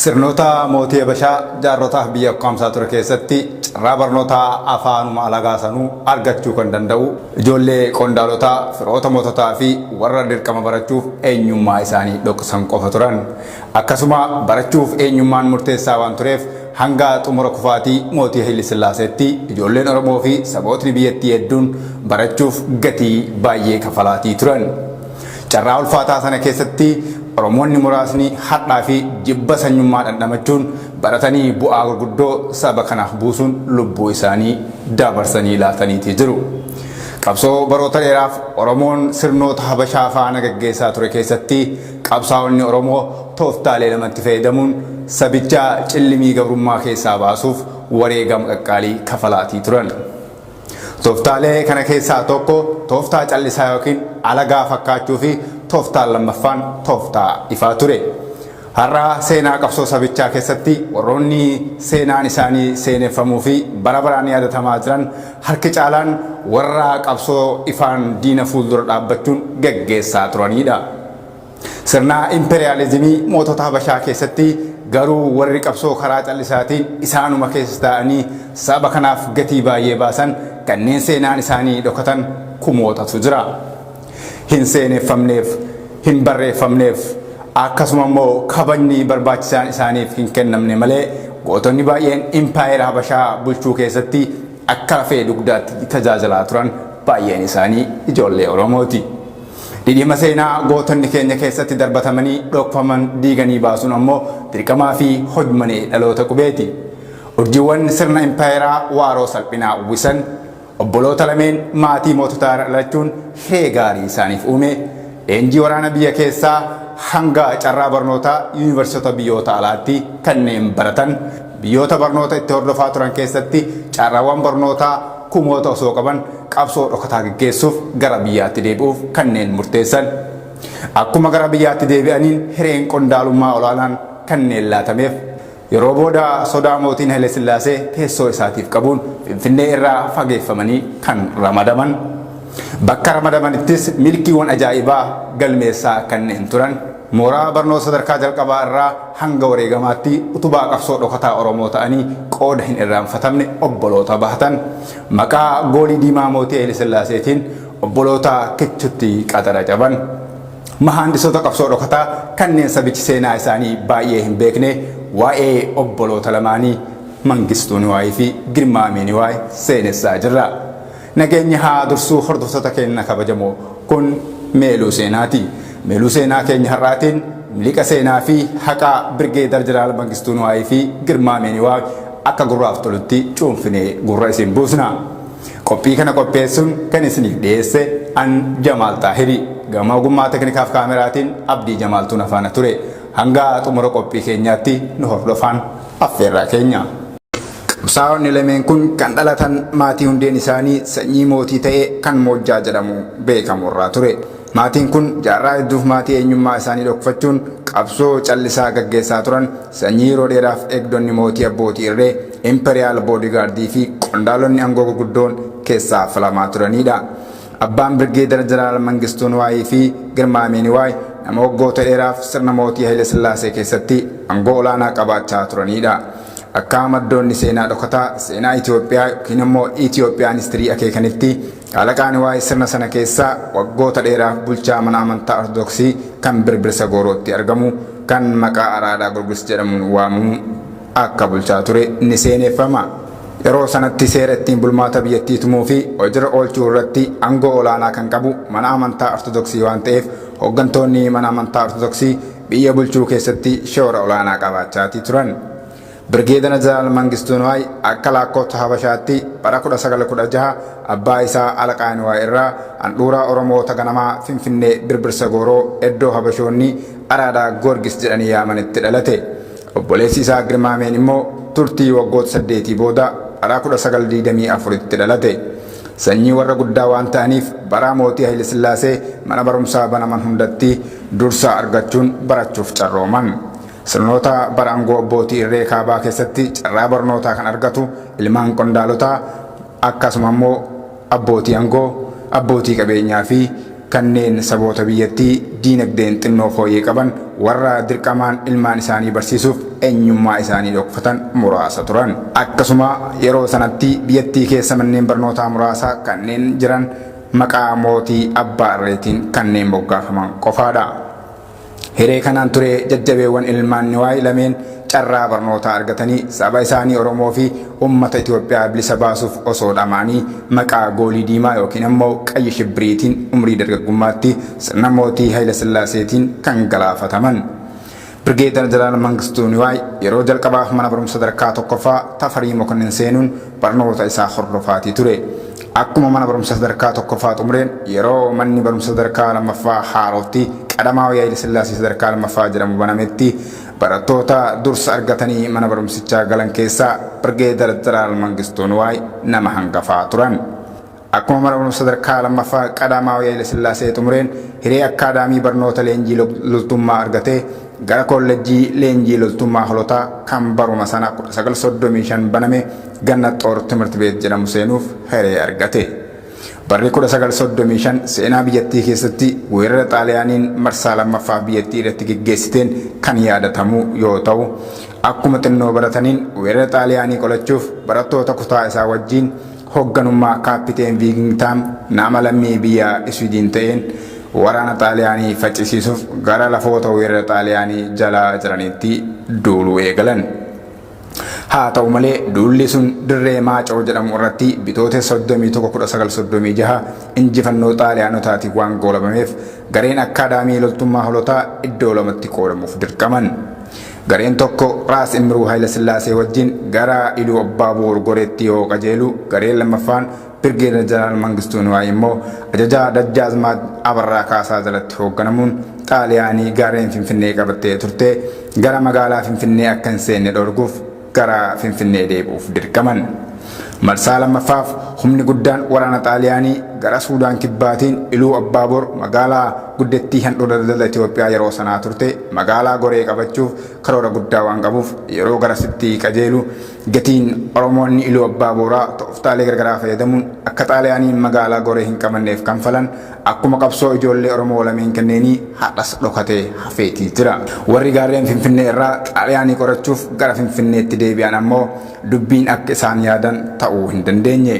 Sirnoota mootii Habashaa jaarrotaaf biyya ukkaamsaa ture keessatti carraa barnootaa afaanuma alagaa sanuu argachuu kan danda'u ijoollee qondaalotaa, firoota moototaa fi warra dirqama barachuuf eenyummaa isaanii dhoksan qofa turan. Akkasuma barachuuf eenyummaan murteessaa waan tureef hanga xumura kufaatii mootii Hayile Sillaaseetti ijoolleen Oromoo fi sabootni biyyattii hedduun barachuuf gatii baay'ee kafalaatii turan. Carraa ulfaataa sana keessatti Oromoonni muraasni hadhaa fi jibba sanyummaa dhandhamachuun baratanii bu'aa gurguddoo saba kanaaf buusuun lubbuu isaanii dabarsanii laataniitii jiru. Qabsoo baroota dheeraaf Oromoon sirnoota Habashaa faana gaggeessaa ture keessatti qabsaa'onni Oromoo tooftaalee lamatti fayyadamuun sabicha cillimii gabrummaa keessaa baasuuf wareegama qaqqaalii kafalaatii turan. Tooftaalee kana keessaa tokko tooftaa callisaa yookiin alagaa fakkaachuu fi tooftaan lammaffaan tooftaa ifaa ture. Har'a seenaa qabsoo sabichaa keessatti warroonni seenaan isaanii seeneffamuu fi bara baraan yaadatamaa jiran harki caalaan warra qabsoo ifaan diina fuuldura dhaabbachuun gaggeessaa turanidha. Sirna imperiyaalizimii mootota Habashaa keessatti garuu warri qabsoo karaa callisaatiin isaanuma keessa taa'anii saba kanaaf gatii baay'ee baasan kanneen seenaan isaanii dhokatan kumootatu jira. Hin seeneffamneef, hin barreeffamneef, akkasuma immoo kabajni barbaachisaan isaaniif hin kennamne malee gootonni baay'een impaayera Habashaa bulchuu keessatti akka lafee dugdaatti tajaajilaa turan baay'een isaanii ijoollee Oromooti. Dhidhiima seenaa gootonni keenya keessatti darbatamanii dhokfaman diiganii baasuun ammoo dirqamaa fi hojmanee dhaloota qubeeti. Urjiiwwan sirna impaayeraa waaroo salphinaa uwwisan obboloota lameen maatii moototaa irra dhalachuun hiree gaarii isaaniif uume. Leenjii waraana biyya keessaa hanga carraa barnootaa yuunivarsiitota biyyoota alaatti kanneen baratan Biyyoota barnoota itti hordofaa turan keessatti carraawwan barnootaa kumoota osoo qaban qabsoo dhokataa geggeessuuf gara biyyaatti deebi'uuf kanneen murteessan. Akkuma gara biyyaatti deebi'aniin hireen qondaalummaa olaanaan kanneen laatameef. Yeroo booda sodaa mootiin Hayilesillaasee teessoo isaatiif qabuun Finfinnee irraa fageeffamanii kan ramadaman. Bakka ramadamanittis milkiiwwan ajaa'ibaa galmeessaa kanneen turan. Mooraa barnoota sadarkaa jalqabaa irraa hanga wareegamaatti utubaa qabsoo dhokataa Oromoo ta'anii qooda hin irraanfatamne obboloota bahatan maqaa goolii diimaa mootii Hayile Sillaaseetiin obboloota kichutti qadara caban. Mahaandisoota qabsoo dhokataa kanneen sabichi seenaa isaanii baay'ee hin beekne waa'ee obboloota lamaanii Mangistuu Niwaayii fi Girmaa Amii Niwaay seenessaa jirra. Nageenyi haa dursuu hordoftoota keenna kabajamoo. Kun Meeluu Seenaati. Meeluu Seenaa keenya har'aatiin miliqa seenaa fi haqaa Birgeedar Jeneraal Mangistuu Nuwaayii fi Girmaa Meeniwaag akka gurraaf tolutti cuunfinee gurra isin buusna. Qophii kana qopheessuun kan isiniif dhiyeesse an Jamaal Xaahiri. Gama ogummaa teknikaaf kaameraatiin Abdii Jamaaltuu na faana ture. Hanga xumura qophii keenyaatti nu hordofaan. affeerraa keenya. Qabsaa'onni lameen kun kan dhalatan maatii hundeen isaanii sanyii mootii ta'e kan Moojjaa jedhamu beekamu irraa ture. Maatiin kun jaarraa hedduuf maatii eenyummaa isaanii dhokfachuun qabsoo callisaa gaggeessaa turan sanyii yeroo dheeraaf eegdonni mootii abbootii irree, imperial bodyguard, fi qondaalonni angoo gurguddoon keessaa filamaa turaniidha. Abbaan Birgeedar Jeneraal Mangistuu Niwaayii fi Girmaamee Niwaay nama waggoota dheeraaf sirna mootii Hayile Sillaasee keessatti angoo olaanaa qabaachaa turaniidha. Akkaa maddoonni seenaa dhokataa seenaa Itoophiyaa yookiin immoo Ethiopian History akeekanitti Shaalaqaa Niwaay sirna sana keessa waggoota dheeraaf bulchaa mana amantaa Ortodoksii kan Birbirsa Goorootti argamu kan maqaa Araadaa Gorgis jedhamuun waamamu akka bulchaa ture ni seeneeffama. Yeroo sanatti seera ittiin bulmaata biyyattii tumuu fi hojirra oolchuu irratti angoo olaanaa kan qabu mana amantaa Ortodoksii waan ta'eef hoggantoonni mana amantaa Ortodoksii biyya bulchuu keessatti shoora olaanaa qabaachaatii turan. Birgeedana Jeneraal Mangistuu Niwaay akka laakkoofsa Habashaatti bara 1916 abbaa isaa Alaqaa Niwaay irraa handhuuraa Oromoota ganamaa Finfinnee Birbirsa Gooroo eddoo Habashoonni Araadaa Goorgis jedhanii yaamanitti dhalate. Obboleessi isaa Girmaameen immoo turtii waggoota saddeetii booda bara 1924tti dhalate. Sanyii warra guddaa waan ta'aniif baraa mootii Hayilesillaasee mana barumsaa banaman hundatti dursa argachuun barachuuf carrooman. Sirnoota bara angoo abbootii irree kaabaa keessatti carraa barnootaa kan argatu ilmaan qondaalotaa akkasuma immoo Abbootii angoo, abbootii qabeenyaa fi kanneen saboota biyyattii diinagdeen xinnoo fooyyee qaban warra dirqamaan ilmaan isaanii barsiisuuf eenyummaa isaanii dhokfatan muraasa turan. Akkasuma yeroo sanatti biyyattii keessa manneen barnootaa muraasa kanneen jiran maqaa mootii abbaa irreetiin kanneen moggaafaman qofaadha. Hiree kanaan ture jajjabeewwan ilmaan Niwaay lameen carraa barnootaa argatanii saba isaanii Oromoo fi ummata Itoophiyaa bilisa baasuuf osoo dhama'anii maqaa goolii diimaa ykn ammoo qayyi shibbiriitiin umrii dargaggummaatti sirna mootii Hayilasillaaseetiin kan galaafataman. Birgeedar Jeneraal Mangistuu Niwaay yeroo jalqabaaf mana barumsa sadarkaa tokkoffaa Tafarii Mokonnin seenuun Barnoota isaa hordofaatii ture. Akkuma mana barumsa sadarkaa tokkoffaa xumureen yeroo manni barumsa sadarkaa lammaffaa Haarootti Qadamaawi Hayile Sillaasee sadarkaa lammaffaa jedhamu banametti barattoota dursa argatanii mana barumsichaa galan keessaa Birgeedar Jeneraal Mangistuu Nuwaay nama hangafaa turan. Akkuma mana barumsa sadarkaa lammaffaa Qadaamaawii Hayila Sillaasee xumureen hiree akkaadaamii barnoota leenjii loltummaa argatee gara koollejjii leenjii loltummaa holotaa kan baruma sana 1935 baname Gannat Xoor Timirt Beet jedhamu seenuuf hiree argate. Barri 1935 seenaa biyyattii keessatti weerara Xaaliyaaniin marsaa lammaffaaf biyyattii irratti geggeessiteen kan yaadatamu yoo ta'u, akkuma xinnoo barataniin weerara Xaaliyaanii qolachuuf barattoota kutaa isaa wajjiin Hogganummaa Kaappiteen Viigingtaam nama lammii biyya Iswiidiin ta'een waraana Xaaliyaanii faccisiisuuf gara lafoota weerara Xaaliyaanii jala jiraniitti duuluu eegalan. Haata'u malee, duulli sun dirree Maacoo jedhamu irratti Bitootessa 31, 1936 injifannoo Xaaliyaanotaatiin waan goolabameef gareen akkaadaamii loltummaa holotaa iddoo lamatti qoodamuuf dirqaman. Gareen tokko Raas Imruu Hayilasillaasee wajjin gara Iluu Abbaa Boor Goreetti yoo qajeelu, gareen lammaffaan Birgeedar Jeneraal Mangistuu Niwaay immoo ajajaa Dajjaazmaach Abarraa Kaasaa jalatti hoogganamuun Xaaliyaanii gaarreen Finfinnee qabattee turte gara magaalaa Finfinnee akka hin seenne dhorkuuf gara Finfinnee deebi'uuf dirqaman. Marsaa lammaffaaf humni guddaan waraana Xaaliyaanii gara Suudaan Kibbaatiin Iluu Abbaa Boor magaalaa guddattii handhuura daldala Itoophiyaa yeroo sanaa turte magaalaa Goree qabachuuf karoora guddaa waan qabuuf yeroo garasitti qajeelu gatiin Oromoonni Iluu Abbaa Booraa tooftaalee gargaraa fayyadamuun akka Xaaliyaaniin magaalaa Goree hin qabanneef kanfalan akkuma qabsoo ijoollee Oromoo lameen kanneenii har'as dhokatee hafeetii jira. Warri gaarreen Finfinnee irraa Xaaliyaanii qorachuuf gara Finfinneetti deebi'an ammoo, Dubbiin akka isaan yaadan ta'uu hin dandeenye.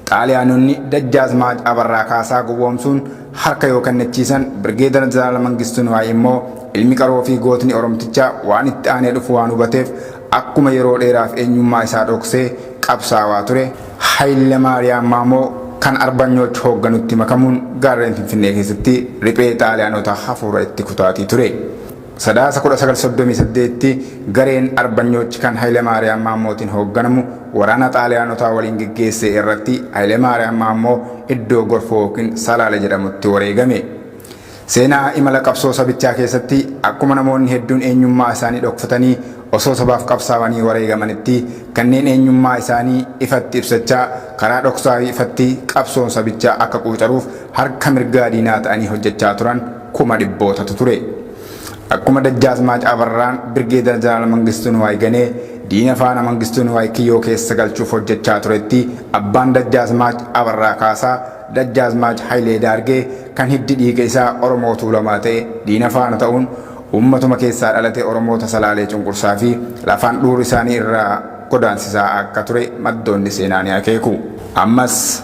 Xaaliyaanonni Dajjaazmaach Abarraa Kaasaa gowwoomsuun harka yoo kennachiisan, Birgeedar Jeneraal Mangistuu Niwaay immoo ilmi qaroo fi gootni Oromtichaa waan itti aanee dhufu waan hubateef akkuma yeroo dheeraaf eenyummaa isaa dhoksee qabsaawaa ture, Hayilemaariyaam Maamoo kan Arbanyooch hoogganutti makamuun gaarreen Finfinnee keessatti riphee Xaaliyaanota hafuura itti kutaatii ture. Sadaasa 1938tti gareen Arbanyoochi kan Hayilemaariyaam Maammootiin hoogganamu waraana Xaaliyaanotaa waliin geggeesse irratti Hayilemaariyaam Maammoo iddoo Gorfoo ykn Salaale jedhamutti wareegame. Seenaa imala qabsoo sabichaa keessatti akkuma namoonni hedduun eenyummaa isaanii dhokfatanii osoo sabaaf qabsaawanii wareegamanitti kanneen eenyummaa isaanii ifatti ibsachaa karaa dhoksaa fi ifatti qabsoon sabichaa akka quucaruuf harka mirgaa diinaa ta'anii hojjechaa turan kuma dhibbootatu ture. Akkuma Dajjaazmaach Abarraan Birgeedar Jeneraal Mangistuu Niwaay ganee diina faana Mangistuu Niwaay kiyyoo keessa galchuuf hojjechaa turetti abbaan Dajjaazmaach Abarraa Kaasaa, Dajjaazmaach Hayilee Daargee, kan hiddi dhiiga isaa Oromoo Tuulamaa ta'e diina faana ta'uun uummatuma keessaa dhalate Oromoota Salaalee cunqursaa fi lafaan dhuur isaanii irraa godaansisaa akka ture maddoonni seenaa ni akeeku. Ammas.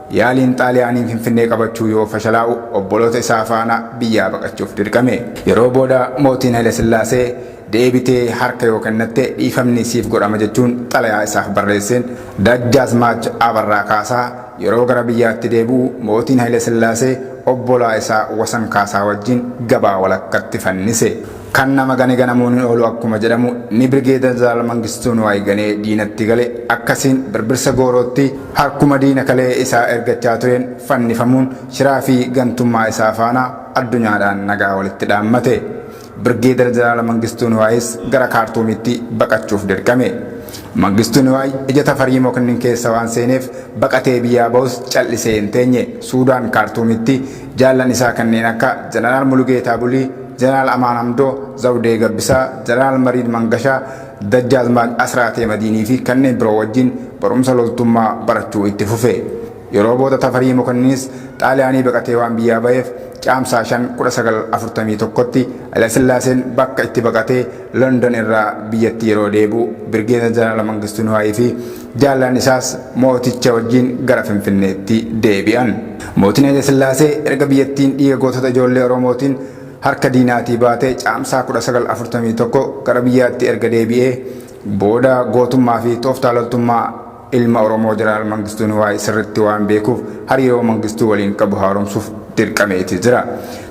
Yaaliin Xaaliyaaniin Finfinnee qabachuu yoo fashalaa'u obboloota isaa faana biyyaa baqachuuf dirqame. Yeroo booda mootiin Hayilasillaasee, Deebitee harka yoo kennatte dhiifamni siif godhama jechuun xalayaa isaaf barreesseen Dajjaazmaach Abarraa Kaasaa yeroo gara biyyaatti deebi'u mootiin Hayilasillaasee obbolaa isaa Wasan Kaasaa wajjin gabaa walakkatti fannise. Kan nama gane ganamuun hin oolu akkuma jedhamu inni Birgeeda Jeneraal Mangistuu Nuwaay ganee diinatti gale akkasiin Birbirsa Goorootti harkuma diina kalee isaa ergachaa tureen fannifamuun shiraa fi gantummaa isaa faana addunyaadhaan nagaa walitti dhaammate. Birgeedar Jeneraal Mangistuu Nuwaayis gara Kaartuumitti baqachuuf dirqame. Mangistuu Nuwaay ija Tafarii Moknnin keessa waan seeneef baqatee biyyaa bahus cal'isee hin teenye. Suudaan Kaartuumitti Jaallan isaa kanneen akka Janaraal Mulugeetaa Bulii, Janaraal Amaan Hamdoo, Zawdee Gabbisaa, Janaraal Mariid Mangashaa, Dajjaazmaach Asraatee Madiinii fi kanneen biroo wajjin barumsa loltummaa barachuu itti fufe. Yeroo booda Tafarii Mokonninis Xaaliyaanii baqatee waan biyyaa baheef Caamsaa 5, 1941tti Hayilasillaaseen bakka itti baqatee London irraa biyyatti yeroo deebi'u Birgeeda Janaraal Mangistuu Niwaayii fi Jaallan isaas mooticha wajjin gara Finfinneetti deebi'an. Mootiin Hayile Sillaasee erga biyyattiin dhiiga gootota ijoollee Oromootiin harka diinaatii baatee Caamsaa 1941 gara biyyaatti erga deebi'ee booda gootummaa fi tooftaa loltummaa ilma Oromoo Jeneraal Mangistuu Niwaay sirritti waan beekuuf hariiroo Mangistuu waliin qabu haaromsuuf dirqameeti jira.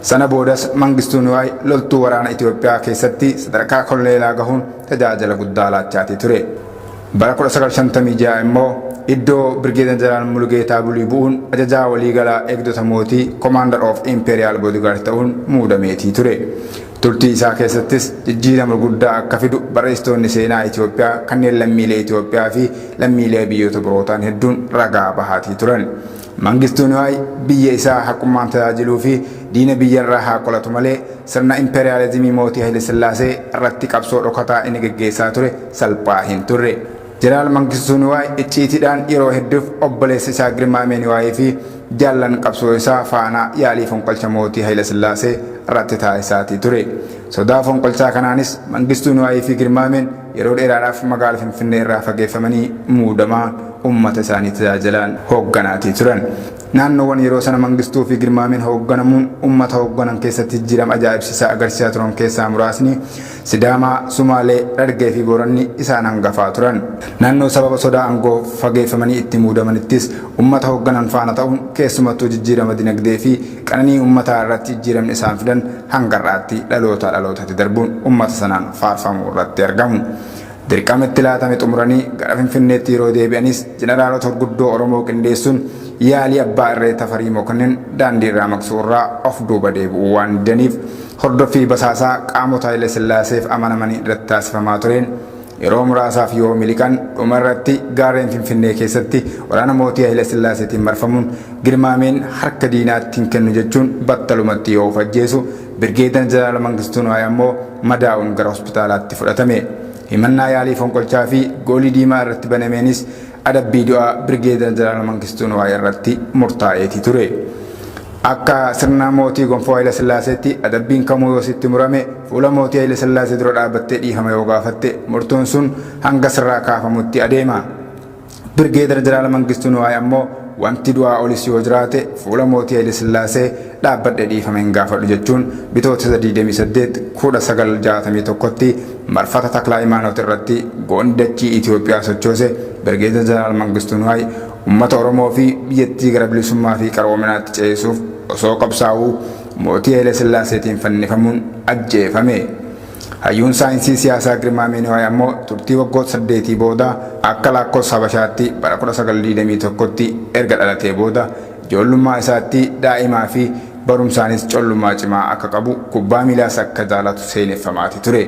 Sana boodas Mangistuu Niwaay loltuu waraana Itoophiyaa keessatti sadarkaa koloneelaa gahuun tajaajila guddaa laachaatii ture. Bara 1956 immoo iddoo Birgeeda Jeneraal Mulugeetaa Bulii bu'uun ajajaa waliigalaa eegdota mootii Commander of Imperial Bodyguard ta'uun muudameetii ture. Turtii isaa keessattis jijjiirama guddaa akka fidu barreessitoonni seenaa Itoophiyaa kanneen lammiilee Itoophiyaa fi lammiilee biyyoota birootaan hedduun ragaa bahaatii turan. Mangistuu Niwaay biyya isaa haqummaan tajaajiluu fi diina biyya irraa haa qolatu malee sirna impeeriyaalizimii mootii Hayile Sillaasee irratti qabsoo dhokataa inni geggeessaa ture salphaa hin turre. Jeneraal Mangistuu Niwaay icciitiidhaan yeroo hedduuf obboleessa isaa Girmaamee Niwaayii fi jaallan qabsoo isaa faana yaalii fonqolcha mootii Hayile Sillaasee irratti taasisaatii ture. Sodaa fonqolchaa kanaanis Mangistuu Niwaayii fi Girmaameen Yeroo dheeraadhaaf magaala Finfinnee irraa fageeffamanii muudamaa ummata isaanii tajaajilaan hoogganaatii turan. Naannoowwan yeroo sana Mangistuu fi Girmaameen hoogganamuun ummata hoogganan keessatti jijjiirama ajaa'ibsiisaa agarsiisaa turan keessaa muraasni Sidaamaa, Sumaalee, Dhargee fi Booranni isaan hangafaa turan. Naannoo sababa sodaa aangoo fageeffamanii itti muudamanittis ummata hoogganan faana ta'uun keessumattuu jijjiirama dinagdee fi Qananii ummataa irratti jijjiiramni isaan fidan hanga har'aatti dhalootaa dhalootatti darbuun ummata sanaan faarfamuu irratti argamu. Dirqama itti laatame xumuranii gara Finfinneetti yeroo deebi'anis jeneraalota hurguddoo Oromoo qindeessuun yaalii abbaa irree Tafarii Mokonnin daandii irraa maqsuu irraa of duuba deebi'uu waan didaniif hordoffii basaasaa qaamota Hayila Sillaaseef amanamanii irratti taasifamaa tureen Yeroo muraasaaf yoo miliqan dhuma irratti gaarreen Finfinnee keessatti waraana mootii Hayila Sillaaseetiin marfamuun Girmaameen harka diinaatti hin kennu jechuun battalumatti yoo of ajjeesu, Birgeedar Jeneraal Mangistuu Niwaay ammoo madaa'uun gara hospitaalaatti fudhatame. Himannaa yaalii fonqolchaa fi goolii diimaa irratti banameenis adabbii du'aa Birgeedar Jeneraal Mangistuu Nuwaay irratti murtaa'eeti ture. Akka sirna mootii Gonfoo Hayila Sillaaseetti adabbiin kamuu yoo sitti murame fuula mootii Hayila Sillaasee dura dhaabattee dhiifama yoo gaafatte murtoon sun hanga sirraa kaafamutti adeema. Birgeedar Jeneraal Mangistuu Nuwaay ammoo wanti du'aa olis yoo jiraate fuula mootii Hayila Sillaasee dhaabbadhe dhiifama hin gaafadhu jechuun Bitootessa 28, 1961tti marfata Taklaayimaanoot irratti goonni dachii Itoophiyaa sochoose Birgeedar Jeneraal Mangistuu Niwaay ummata Oromoo fi biyyattii gara bilisummaa fi qaroominaatti ceesisuuf osoo qabsaa'uu mootii Haile Sillaaseetiin fannifamuun ajjeefame. Hayyuun saayinsii siyaasaa Girmaamee Niwaay ammoo turtii waggoota saddeetii booda akka laakkoofsa Habashaatti bara 1921tti erga dhalatee booda Ijoollummaa isaattii daa'imaa fi barumsaanis collummaa cimaa akka qabu, kubbaa miilaas akka jaalatu seeneffamaati ture.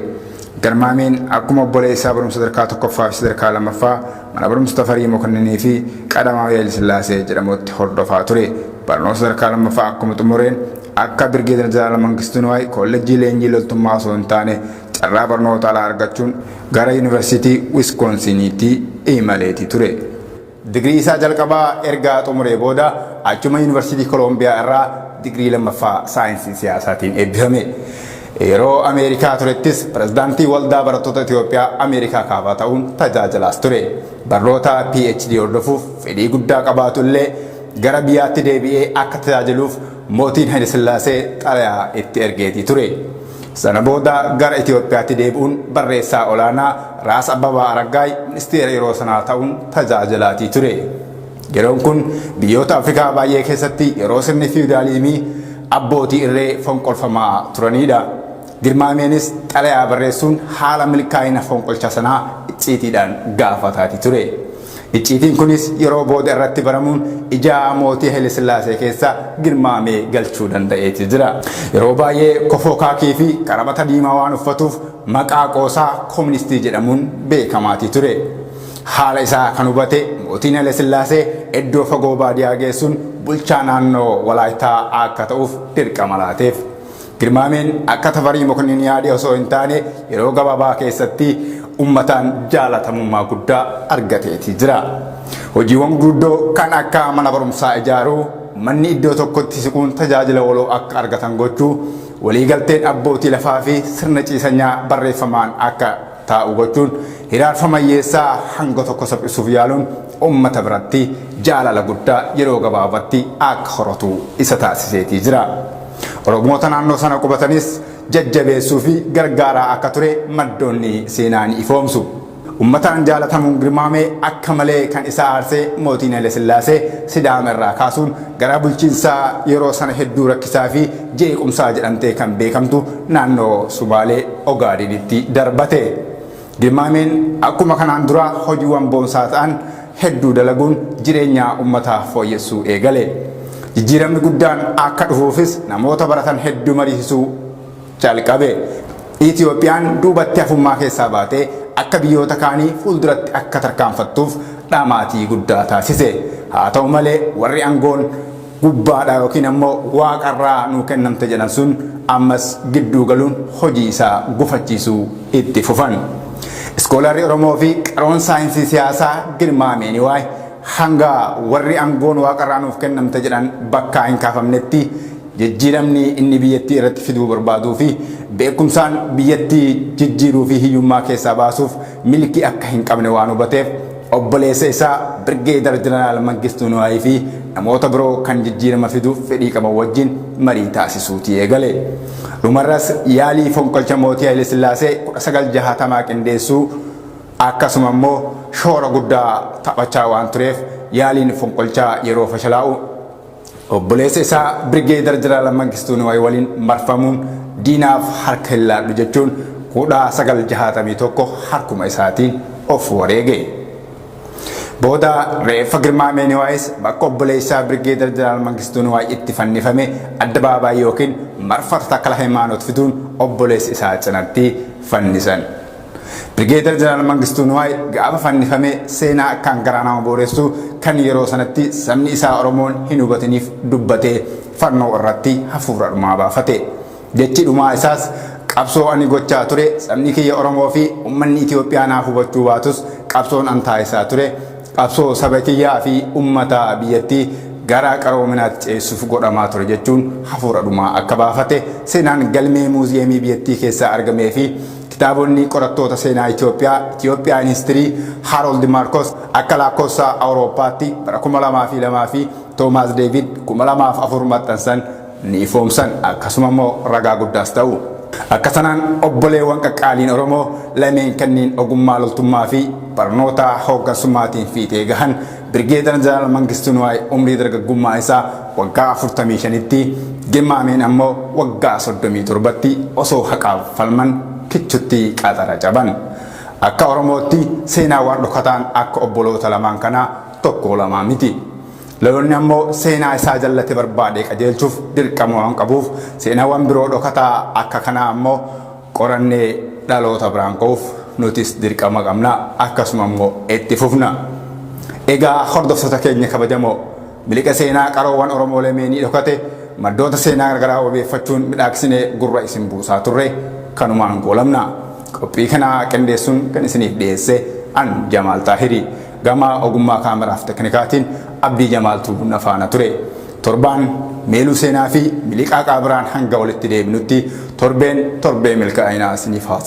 Garmaameen akkuma obboleessaa barumsa sadarkaa tokkoffaa fi sadarkaa lammaffaa Mana Barumsa Tafarii Mokonninii fi Qadamaawii Hayilasillaasee jedhamutti hordofaa ture. Barnoota sadarkaa lammaffaa akkuma xumureen akka Birgeedar Jeneraal Mangistuu Niwaay Koollejjii Leenjii Loltummaa osoo hin taane carraa barnoota alaa argachuun gara Yuunivarsiitii Wiskoonsiiniitti imaleeti ture. Digirii isaa jalqabaa erga xumuree booda achuma Yuunivarsiitii Koloombiyaa irraa digirii lammaffaa saayinsii siyaasaatiin eebbifame. Yeroo Ameerikaa turettis pirezidaantii Waldaa Barattoota Itoophiyaa Ameerikaa Kaabaa ta'uun tajaajilaas ture. Barnoota PhD hordofuuf fedhii guddaa qabaatu illee gara biyyaatti deebi'ee akka tajaajiluuf mootiin Hayilasillaasee xalayaa itti ergeetii ture. Sana booda gara Itoophiyaatti deebi'uun barreessaa olaanaa Raas Abbabaa Araggaay ministeera yeroo sanaa ta'uun tajaajilaatii ture. Yeroon kun biyyoota Afrikaa baay'ee keessatti yeroo sirni fiyudaaliizimii abbootii irree fonqolfamaa turaniidha. Girmaameenis xalayaa barreessuun haala milkaa'ina fonqolcha sanaa icciitiidhaan gaafataatii ture. Icciitiin kunis yeroo booda irratti baramuun ija mootii Hayilesillaasee keessa girmaamee galchuu danda'eeti jira. Yeroo baay'ee kofoo kaakii fi karamata diimaa waan uffatuuf maqaa qoosaa koministii jedhamuun beekamaatii ture. Haala isaa kan hubate mootiin Hayilesillaasee iddoo fagoo baadiyaa geessuun bulchaa naannoo Walaayittaa akka ta'uuf dirqama laateef. Girmaameen akka Tafarii Mokonnin yaade osoo hin taane yeroo gabaabaa keessatti ummataan jaalatamummaa guddaa argateeti jira. Hojiiwwan gurguddoo kan akka mana barumsaa ijaaruu, ummanni iddoo tokkotti siquun tajaajila waloo akka argatan gochuu, waliigalteen abbootii lafaa fi sirna ciisanyaa barreeffamaan akka taa'u gochuun hiraarfama hiyyeessaa hanga tokko saphisuuf yaaluun ummata biratti jaalala guddaa yeroo gabaabatti akka horatu isa taasiseetii jira. Oromoota naannoo sana qubatanis jajjabeessuu fi gargaaraa akka ture maddoonni seenaa ni ifoomsu. Ummataan jaalatamuun girmaame akka malee kan isa aarse mootiin Hayilasillaasee Sidaama irraa kaasuun gara bulchiinsa yeroo sana hedduu rakkisaa fi jeequmsaa jedhamtee kan beekamtu naannoo Sumaalee Ogaadenitti darbate. Dimaameen akkuma kanaan duraa hojiiwwan boonsaa ta'an hedduu dalaguun jireenya ummataa fooyyessuu eegale. Jijjiiramni guddaan akka dhufuufis namoota baratan hedduu mariisisuu calqabe. Itiyoophiyaan duubatti hafummaa keessaa baatee akka biyyoota kaanii fuulduratti akka tarkaanfattuuf dhamaatii guddaa taasise. Haa ta'u malee warri angoon. gubbaadhaa yookiin ammoo waaqarraa nuu kennamte jedhan sun ammas gidduu galuun hojii isaa gufachiisuu itti fufan. Iskoolaarri Oromoo fi qaroon saayinsii siyaasaa Girmaa Meeniwaay hanga warri angoon waaqarraa nuuf kennamte jedhan bakkaa hin kaafamnetti jijjiiramni inni biyyattii irratti fiduu barbaaduu fi beekumsaan biyyattii jijjiiruu fi hiyyummaa keessaa baasuuf milkii akka hin qabne waan hubateef Obboleessa isaa Birgeedar Jeneraal Mangistuu Nuwaayii fi namoota biroo kan jijjiirama fiduuf fedhii qaban wajjin marii taasisuutii eegale. Dhumarras yaalii fonqolcha mootii Hayilesillaasee 1960 qindeessuu akkasuma immoo shoora guddaa taphachaa waan tureef yaaliin fonqolchaa yeroo fashalaa'u Obboleessa isaa Birgeedar Jeneraal Mangistuu Niwaay waliin marfamuun diinaaf harka hin laadhu jechuun 1961 harkuma isaatiin of wareege. Booda reeffa Girmaamee Niwaayis bakka obboleessaa Birgeedar Jeneraal Mangistuu Niwaay itti fannifame addabaabaayii yookiin marfata Takla Hayimaanoot fiduun obboleessa isaa cinatti fannisan. Brigeedar Jeneraal Mangistuu Nuwaay gaafa fannifamee seenaa akkaan garaa nama booressu kan yeroo sanatti sabni isaa Oromoon hin hubatiniif dubbatee fannoo irratti hafuura dhumaa baafate. Jechi dhumaa isaas qabsoo ani gochaa ture sabni kiyya Oromoo fi ummanni Itoophiyaa naaf hubachuu baatus qabsoon an taasisaa ture qabsoo saba kiyyaa fi ummata biyyattii gara qaroominaatti ceessuuf godhamaa ture jechuun hafuura dhumaa akka baafate seenaan galmee muuziyeemii biyyattii keessaa argamee fi Kitaabonni qorattoota seenaa Itoophiyaa, Ethiopian History, Harold Marcos akka laakkoofsa Awurooppaatti bara 2002 fi Toomaas Deevid 2004 maxxansan ni ifoomsan, akkasuma immoo ragaa guddaas ta'u. Akka sanaan obboleewwan qaqqaaliin Oromoo lameen kanneen ogummaa loltummaa fi barnoota hooggansummaatiin fiixee gahan, Birgeedar Jeneraal Mangistuu Nuwaay umrii dargaggummaa isaa waggaa 45tti, Gemmaameen ammoo waggaa 37tti osoo haqaaf falman kichutti qaxara caban. Akka Oromootti seenaawwan dhokataan akka obboloota lamaan kanaa tokkoo lamaa miti. Lolonni ammoo seenaa isaa jallate barbaadee qajeelchuuf dirqama waan qabuuf seenaawwan biroo dhokataa akka kanaa ammoo qorannee dhaloota biraan ga'uuf nutis dirqama qabna akkasuma immoo itti fufna. Egaa hordoftoota keenya kabajamoo miliqa seenaa qaroowwan Oromoo lameenii dhokate maddoota seenaa garagaraa wabeeffachuun midhaagsinee gurra isin buusaa turre kanumaan goolabna. Qophii kana qindeessuun kan isiniif dhiyeesse an Jamaal Xaahirii. Gama ogummaa camera fi teknikaatiin Abdii Jamaaltu na faana ture. Torbaan Meeluu Seenaa fi Miliqaa Qaabiraan hanga walitti deebinutti torbeen torbee milkaa'inaa isiniif haa ta'u.